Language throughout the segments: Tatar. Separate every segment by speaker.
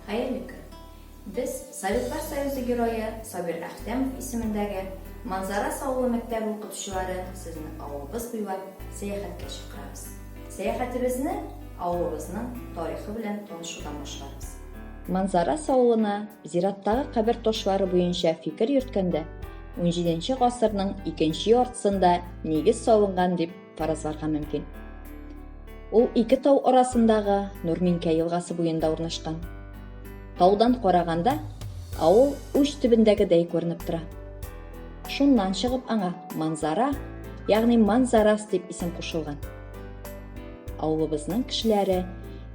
Speaker 1: Хәерле көн! Без Советлар Союзы Герое Сабир Әхтәмов исемендәге Манзарас авылы мәктәбе укытучылары сезне авылыбыз буйлап сәяхәткә чакырабыз. Сәяхәтебезне авылыбызның тарихы белән танышудан башларбыз. Манзарас авылына зираттагы кабер ташлары буенча фикер йөрткәндә, 17 гасырның икенче яртысында нигез салынган дип фаразларга мөмкин. Ул ике тау арасындагы Нурминкә елгасы буенда урнашкан. Таудан караганда авыл уч төбендәгедәй күренеп тора. Шуннан чыгып аңа Манзара, ягъни Манзарас дип исем кушылган. Авылыбызның кешеләре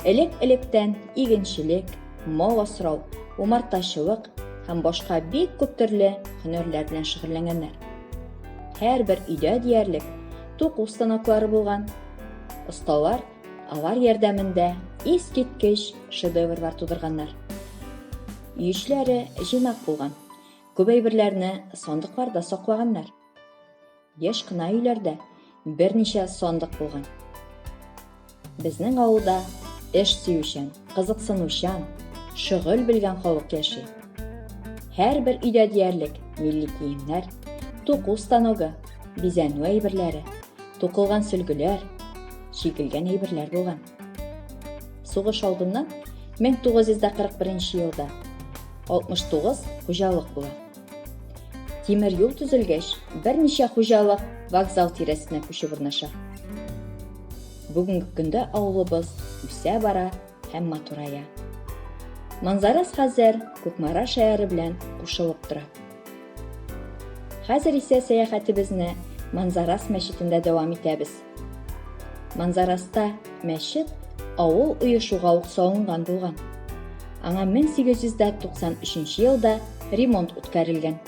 Speaker 1: элек-электән игенчелек, мал асрау, умартачылык һәм башка бик күп төрле һөнәрләр белән шөгыльләнгәннәр. Һәрбер өйдә диярлек туку станоклары булган. Осталар алар ярдәмендә искиткеч шедеврлар тудырганнар. Өешләре җыйнак булган. Күп әйберләрне сандыкларда саклаганнар. Еш кына өйләрдә берничә сандык булган. Безнең авылда эш сөючән, кызыксынучан, шөгыль белгән халык яши. Һәрбер өйдә диярлек милли киемнәр, туку станогы, бизәнү әйберләре, тукылган сөлгеләр, чигелгән әйберләр булган. Сугыш алдыннан 1941 елда 69 хуҗалык була. Тимер юл төзелгәч, берничә хуҗалык вокзал тирәсенә күчеп урнаша. Бүгенге көндә авылыбыз үсә бара һәм матурая. Манзарас хәзер Кукмара шәһәре белән кушылып тора. Хәзер исә сәяхәтебезне Манзарас мәчетендә дәвам итәбез. Манзараста мәчет авыл өе шуга ук салынган булган. Аңа 1893 елда ремонт үткәрелгән.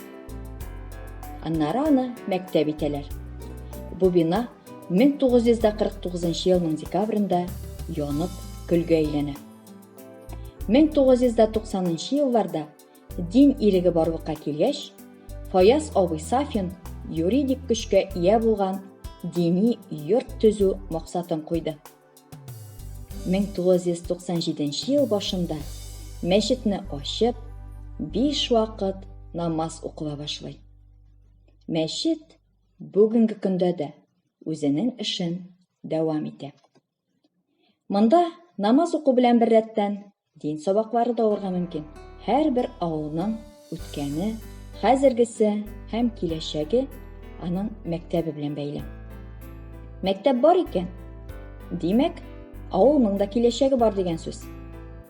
Speaker 1: Аннары аны мәктәп итәләр. Бу бина 1949 елның декабрендә янып көлгә әйләнә. 1990 елларда Дин иреге барлыкка килгәч, Фаяз абый Сафин юридик көчкә ия булган дини йорт төзү максатын куйды. 1997 ел башында мәчетне ачып, биш вакыт намаз укыла башлый. Мәчет бүгенге көндә дә үзенең эшен дәвам итә. Монда намаз уку белән бер рәттән дин сабаклары да алырга мөмкин. Һәрбер авылның үткәне, хәзергесе һәм киләчәге аның мәктәбе белән бәйле. Мәктәп бар икән, димәк, авылның да киләчәге бар дигән сүз.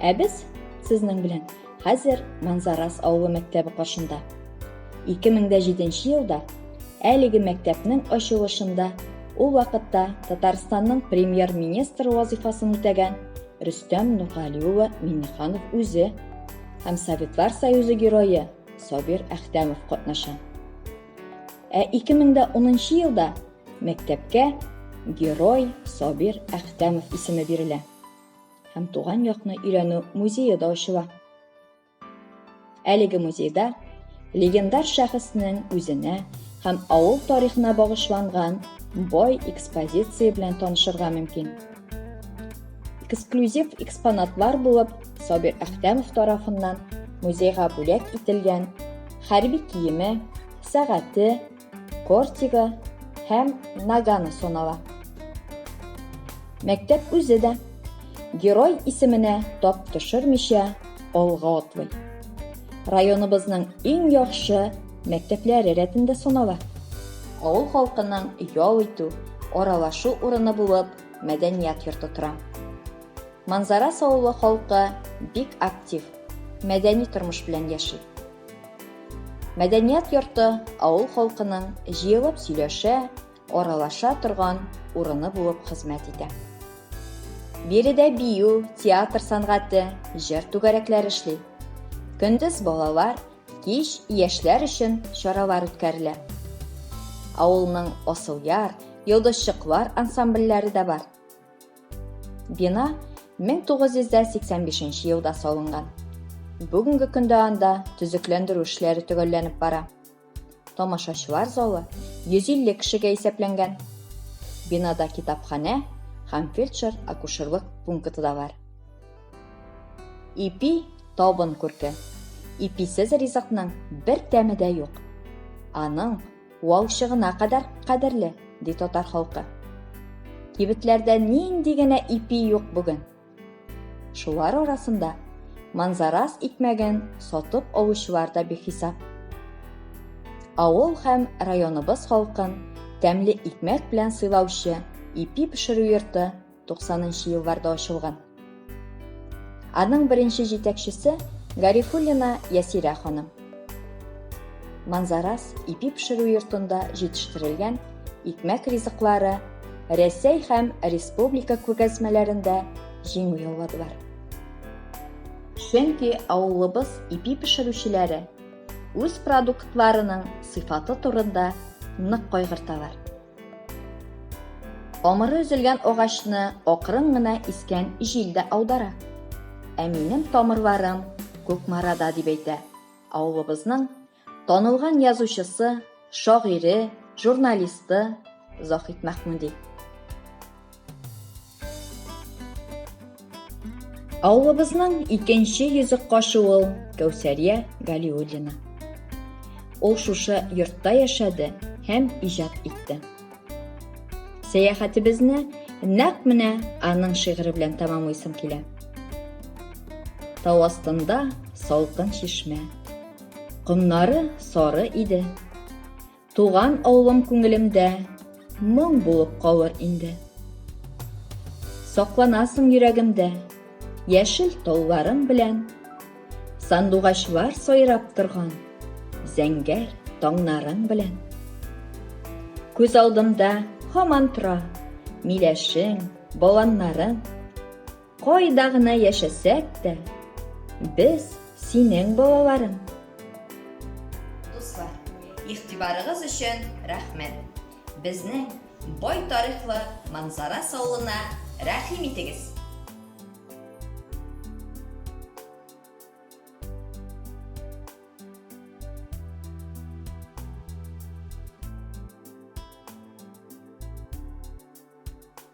Speaker 1: Ә без сезнең белән хәзер Манзарас авылы мәктәбе каршында. 2007 елда әлеге мәктәпнең ачылышында ул вакытта Татарстанның премьер-министры вазифасын үтәгән Рөстәм Нургали улы Миннеханов үзе һәм Советлар Союзы герое Сабир Әхтәмов катнаша. Ә 2010 елда Мәктәпкә герой Сабир Әхтәмов исеме бирелә. Һәм туган якны өйрәнү музее да ачыла. Әлеге музейда легендар шәхеснең үзенә һәм авыл тарихына багышланган бай экспозиция белән танышырга мөмкин. Эксклюзив экспонатлар булып Сабир Әхтәмов тарафыннан музейга бүләк ителгән хәрби киеме, сәгате, Кортига һәм Нагана санала. Мәктәп үзе дә герой исеменә тап төшермичә алга атлый. Районыбызның иң яхшы мәктәпләре рәтендә санала. Авыл халкының ял итү, аралашу урыны булып мәдәният йорты тора. Манзара авылы халкы бик актив, мәдәни тормыш белән яши. Мәдәният йорты авыл халкының җыелып сөйләшә, аралаша торган урыны булып хезмәт итә. Биредә бию, театр сәнгате, җыр түгәрәкләре эшли. Көндез балалар, кич яшьләр өчен чаралар үткәрелә. Авылның Асылъяр, Йолдызчыклар ансамбльләре дә бар. Бина 1985 елда салынган. Бүгенге көндә анда төзекләндерү эшләре төгәлләнеп бара. Тамашачылар залы 150 кешегә исәпләнгән. Бинада китапханә һәм фельдшер акушерлык пункты да бар. Ипи табын күрке. Иписез ризыкның бер тәме дә юк. Аның валчыгына кадәр кадерле, ди татар халкы. Кибетләрдә нинди генә ипи юк бүген. Шулар арасында манзарас икмәген сатып алучылар да бихисап. Авыл һәм районыбыз халкын тәмле икмәк белән сыйлаучы ипи пешерү йорты 90нчы елларда ачылган. Аның беренче җитәкчесе Гарифуллина Ясирә ханым. Манзарас ипи пешерү йортында җитештерелгән икмәк ризыклары Рәсәй һәм республика күргәзмәләрендә җиңү яуладылар. Чөнки авылыбыз ипи пешерүчеләре үз продуктларының сыйфаты турында нык кайгырталар. Тамыры өзелгән агачны акрын гына искән җил дә аудара. Ә минем тамырларым Кукмарада дип әйтә. Авылыбызның танылган язучысы, шагыйре, журналисты Заһит Мәхмүди. Авылыбызның икенче йөзек кашы ул Кәүсәрия Галиуллина. Ул шушы йортта яшәде һәм иҗат итте. Сәяхәтебезне нәкъ менә аның шигыре белән тәмамлыйсым килә. Тау астында салкын чишмә. Комнары сары иде. Туган авылым күңелемдә моң булып калыр инде. Сакланасың йөрәгемдә, яшел тауларым белән. Сандугачлар сайрап торган, зәңгәр таңнарың белән. Күз алдымда һаман тора, миләшең, баланнарың. Кайда гына яшәсәк тә, без синең балаларың. Дуслар, игътибарыгыз өчен рәхмәт. Безнең бай тарихлы Манзара саулына рәхим итегез.